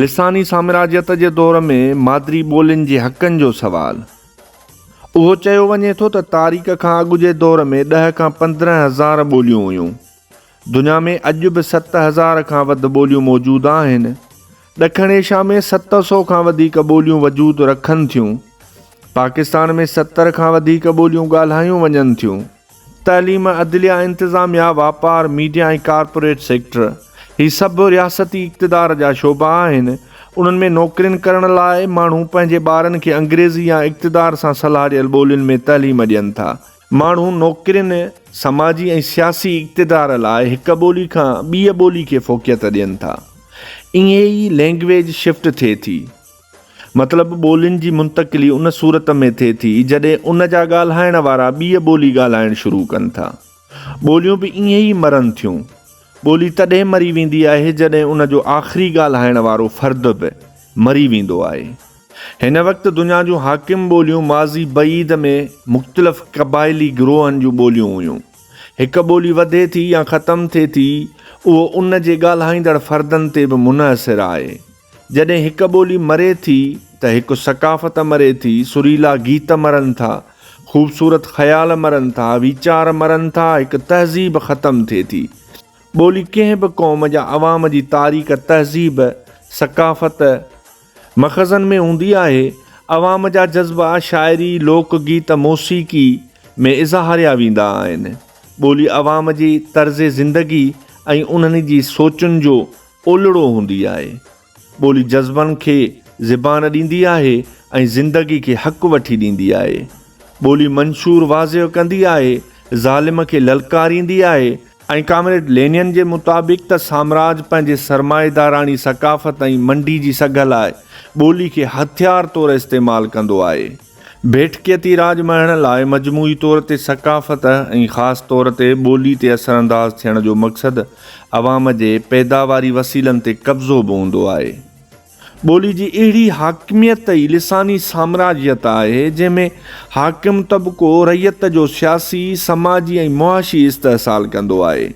لساني سامراجيت جي دور ۾ مادري ٻولين جي حقن جو سوال، اهو چيو وڃي ٿو ته تاريخ کان اڳ جي دور ۾ ڏهه کان پندرهن هزار ٻوليون هيون. دنيا ۾ اڄ به ست هزار کان وڌ ٻوليون موجود آهن. ڏکڻ ايشيا ۾ ست سو کان وڌيڪ ٻوليون وجود رکن ٿيون. پاڪستان ۾ ستر کان وڌيڪ ٻوليون ڳالهايون وڃن ٿيون. تعليم، عدليه، انتظاميه، واپار، ميڊيا ۽ ڪارپوريٽ سيڪٽر، هي سڀ رياستي اقتدار جا شعبا آهن، انهن ۾ نوڪرين ڪرڻ لاء ماڻهو پنهنجي ٻارن کي انگريزي يا اقتدار سان سلهاڙيل ٻولين ۾ تعليم ڏين ٿا. ماڻهو نوڪرين، سماجي ۽ سياسي اقتدار لاء هڪ ٻولي کان ٻيء ٻولي کي فوقيت ڏين ٿا. ائين ئي لينگويج شفٽ ٿئي ٿي. مطلب ٻولين جي منتقلي ان صورت ۾ ٿئي ٿي جڏهن ان جا ڳالهائڻ وارا ٻيء ٻولي ڳالهائڻ شروع ڪن ٿا. ٻوليون به ائين ئي مرن ٿيون. ٻولي تڏهن مري ويندي آهي جڏهن ان جو آخري ڳالهائڻ وارو فرد به مري ويندو آهي. هن وقت دنيا جون حاڪم ٻوليون ماضي بعيد ۾ مختلف قبائلي گروهن جون ٻوليون هيون. هڪ ٻولي وڌي ٿي يا ختم ٿئي ٿي اهو ان جي ڳالهائيندڙ فردن تي به منحصر آهي. جڏهن هڪ ٻولي مري ٿي ته هڪ ثقافت مري ٿي، سريلا گيت مرن ٿا، خوبصورت خيال مرن ٿا، ويچار مرن ٿا، هڪ تهذيب ختم ٿئي ٿي. ٻولي ڪنهن به قوم جا عوام جي تاريخ، تهذيب، ثقافت، مخزن ۾ هوندي آهي، عوام جا جذبا شاعري، لوڪ گيت، موسيقي ۾ اظهاريا ويندا آهن. ٻولي عوام جي طرز زندگي ۽ انهن جي سوچن جو اولڙو هوندي آهي. ٻولي جذبن کي زبان ڏيندي آهي ۽ زندگي کي حق وٺي ڏيندي آهي. ٻولي منشور واضح ڪندي آهي، ظالم کي للڪاريندي آهي، ۽ ڪامريڊ لينن جي مطابق ته سامراج پنهنجي سرمائيداراڻي ثقافت ۽ منڊي جي سگهه لاء ٻولي کي هٿيار طور استعمال ڪندو آهي. بيٺڪيتي راڄ مهڻ لاء مجموعي طور تي ثقافت ۽ خاص طور تي ٻولي تي اثرانداز ٿيڻ جو مقصد عوام جي پيداواري وسيلن تي قبضو به هوندو آهي. ٻولي جي اهڙي حاڪميت ئي لساني سامراجيت آهي، جنهن ۾ حاڪم طبقو رعيت جو سياسي، سماجي ۽ معاشي استحصال ڪندو آهي.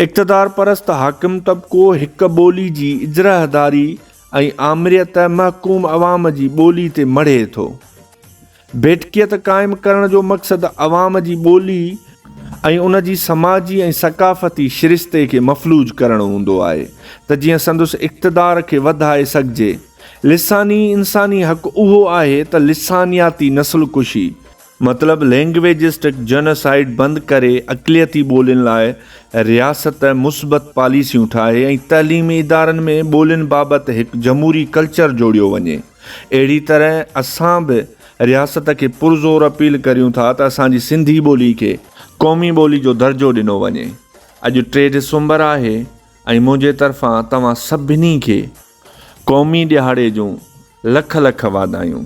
اقتدارپرست حاڪم طبقو هڪ ٻولي جي اجرهداري ۽ آمريت محڪوم عوام جي ٻولي تي مڙهي ٿو. ڀيٽڪيت قائم ڪرڻ جو مقصد عوام جي ٻولي ۽ ان جي سماجي ۽ ثقافتي شرستي کي مفلوج ڪرڻ هوندو آهي ته جيئن سندس اقتدار کي وڌائي سگهجي. لساني انساني حق اهو آهي ته لسانياتي نسل ڪشي، مطلب لينگويجسٽڪ جنوسائيڊ بند ڪري اقليتي ٻولين لاء رياست مثبت پاليسيون ٺاهي ۽ تعليمي ادارن ۾ ٻولين بابت هڪ جمهوري ڪلچر جوڙيو وڃي اهڙي طرح اسان به رياست کي پرزور اپيل ڪريون ٿا ته اسان جي سنڌي ٻولي کي قومي ٻولي جو درجو ڏنو وڃي اڄ ٽي ڊسمبر آهي ۽ منهنجي طرفان توهان سڀني کي قومي ڏهاڙي جون لک لک واڌايون.